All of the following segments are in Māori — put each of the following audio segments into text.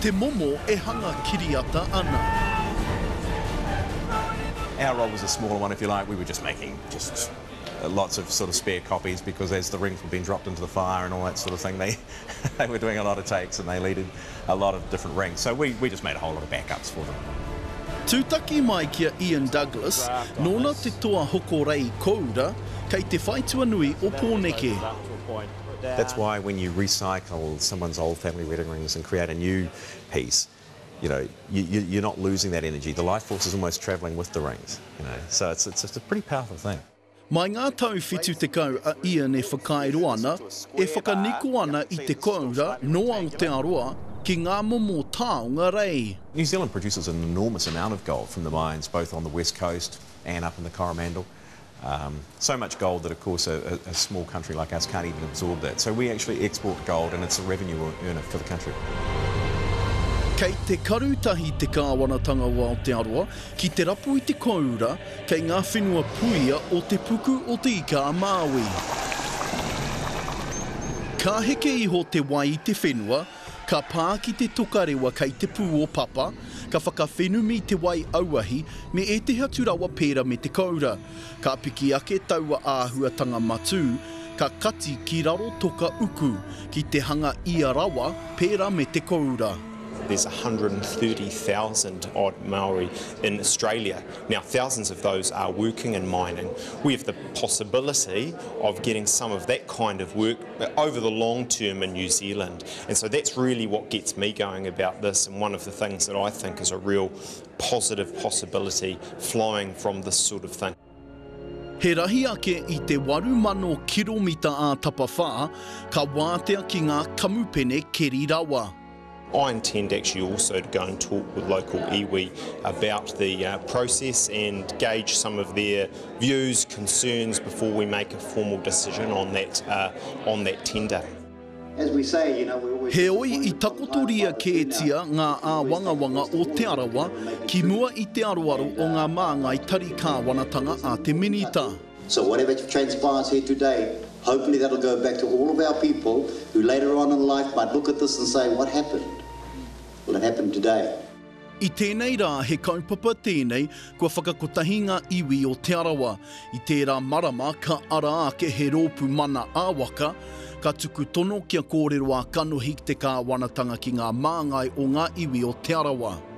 Te momo e hanga kiriata ana. Our role was a smaller one if you like, we were just making just lots of sort of spare copies because as the rings were being dropped into the fire and all that sort of thing they they were doing a lot of takes and they needed a lot of different rings so we we just made a whole lot of backups for them. Tūtaki mai ki a Ian Douglas, nōna te toa hoko rei kōura, kei te whai tuanui o Pōneke. That's why when you recycle someone's old family wedding rings and create a new piece, you know, you, you, you're not losing that energy. The life force is almost travelling with the rings, you know. So it's, it's, it's a pretty powerful thing. Mai ngā tau 70 a Ian e whakairo ana, e whakaniko ana i te koura nō Aotearoa ki ngā momo taonga rei. New Zealand produces an enormous amount of gold from the mines both on the west coast and up in the Coromandel. So much gold that of course a small country like us can't even absorb that. So we actually export gold and it's a revenue earner for the country. Kei te karu tahi te Kāwanatanga o Aotearoa ki te rapu i te kōura kei ngā whenua puia o Te Puku o Te Ika-a-Māui. Ka heke iho te wai i te whenua, Ka pā ki te tokarewa kei te pū o Papa, ka whakawhenumi te wai auahi me ētehi atu rawa pēra me te koura. Ka piki ake taua āhuatanga matū, ka kati ki raro toka uku ki te hanga ia rawa pēra me te koura. There's 130,000 odd Maori in Australia now, thousands of those are working in mining. We have the possibility of getting some of that kind of work. over the long term in New Zealand. And so that's really what gets me going about this and one of the things that I think is a real positive possibility flying from this sort of thing. He rahi ake i te 8,000 kiromita ā tapawhā, ka wātea ki ngā kamupene keri rawa. I intend actually also to go and talk with local iwi about the uh, process and gauge some of their views, concerns before we make a formal decision on that uh, on that tender. Heoi, i takotoria kētia ngā āwangawanga o Te Arawa ki mua i te aroaro o ngā māngai tari kāwanatanga a te Minita. So whatever transpires here today, hopefully that will go back to all of our people who later on in life might look at this and say, what happened? Well, it happened today. I tēnei rā he kaupapa tēnei kua whakakotahi ngā iwi o Te Arawa. I tērā marama ka ara ake he rōpū mana ā-waka, ka tuku tono kia kōrero ā-kanohi te kāwanatanga ki ngā māngai o ngā iwi o Te Arawa.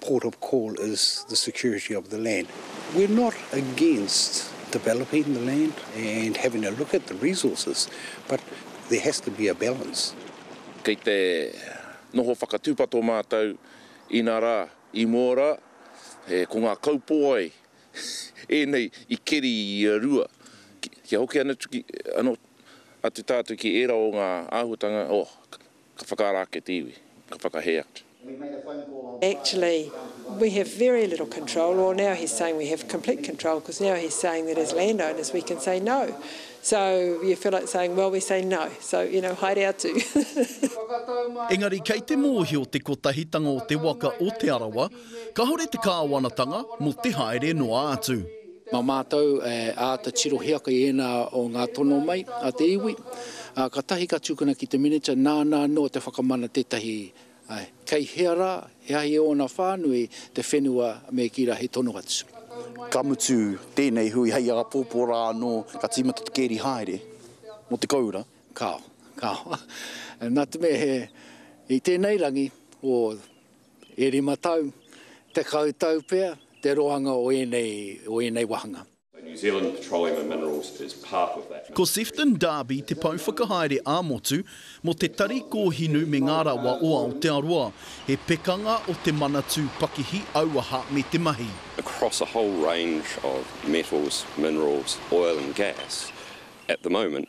port of call is the security of the land. We're not against developing the land and having a look at the resources, but there has to be a balance. Kei te noho whakatūpato mātou, inā rā, i mua rā, he, ko ngā kaupōai ēnei i keri i a Rua. Kia hoki anō atu ki ērā o ngā āhuatanga, oh, Ka whakaara ake te iwi, ka whakahē atu. Actually, we have very little control, or now he's saying we have complete control, because now he's saying that as landowners we can say no. So, you feel like saying, well, we say no, so, you know, haere atu. Engari kei te mōhio te kotahitanga o te waka o Te Arawa Kahore te Kāwanatanga mo te haere noa atu. Ma mātou e āta tirohia ki ēnā o ngā tono mai a te iwi, ā, katahi ka tukuna ki te Minita nāna anō te whakamana tētahi kei hea rā, he ahi e ōna whānui, te whenua me kīra he tono atu. Ka mutu tēnei hui hei āpōpō rā anō ka tīmata te kēri haere mo te koura. Kāo, kāo. Nā te mea he i tēnei rangi o. E rima tau, tekau tau pea te roanga o ēnei, o ēnei wāhanga. New Zealand Petroleum and Minerals is part of that. Ko Sefton Darby te pouwhakahaere ā-motu mō te Tari Kōhinu me ngā Rawa o Aotearoa. He pekanga o te Manatū Pakihi Auaha me te Mahi. across a whole range of metals, minerals, oil and gas at the moment.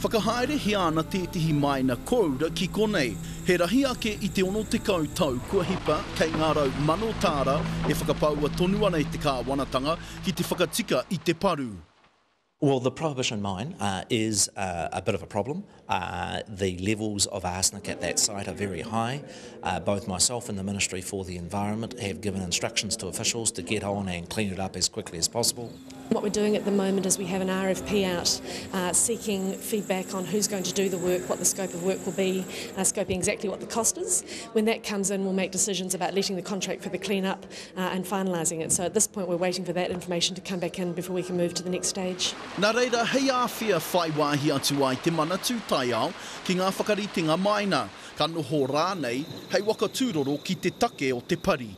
Whakahaerehia ana tētehi māina kōura ki konei, he rahi ake i te 60 tau kua hipa kei ngā rau mano tāra e whakapaua tonu ana e te kāwanatanga ki te whakatika i te paru. Well the prohibition mine is a bit of a problem, the levels of arsenic at that site are very high, both myself and the Ministry for the Environment have given instructions to officials to get on and clean it up as quickly as possible. What we're doing at the moment is we have an RFP out seeking feedback on who's going to do the work, what the scope of work will be, scoping exactly what the cost is. When that comes in, we'll make decisions about letting the contract for the clean-up and finalising it. So at this point we're waiting for that information to come back in before we can move to the next stage. Nā reira, hei āwhea whai wāhi atu ai te Manatū Taiao ki ngā whakaritenga māina, ka noho rānei hei waka tūroro ki te take o te pari.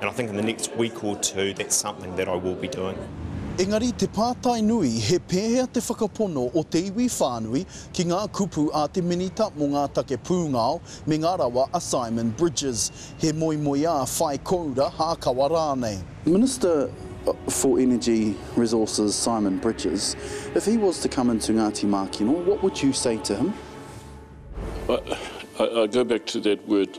And I think in the next week or two that's something that I will be doing. Engari te pātai nui, he pēhea te whakapono o te iwi whānui ki ngā kupu a te Minita mō ngā take pūngao me ngā rawa a Simon Bridges, he moemoeā whai koura, hākawa rānei. Minister for Energy, Resources, Simon Bridges, if he was to come into Ngāti Mākino, what would you say to him? I go back to that word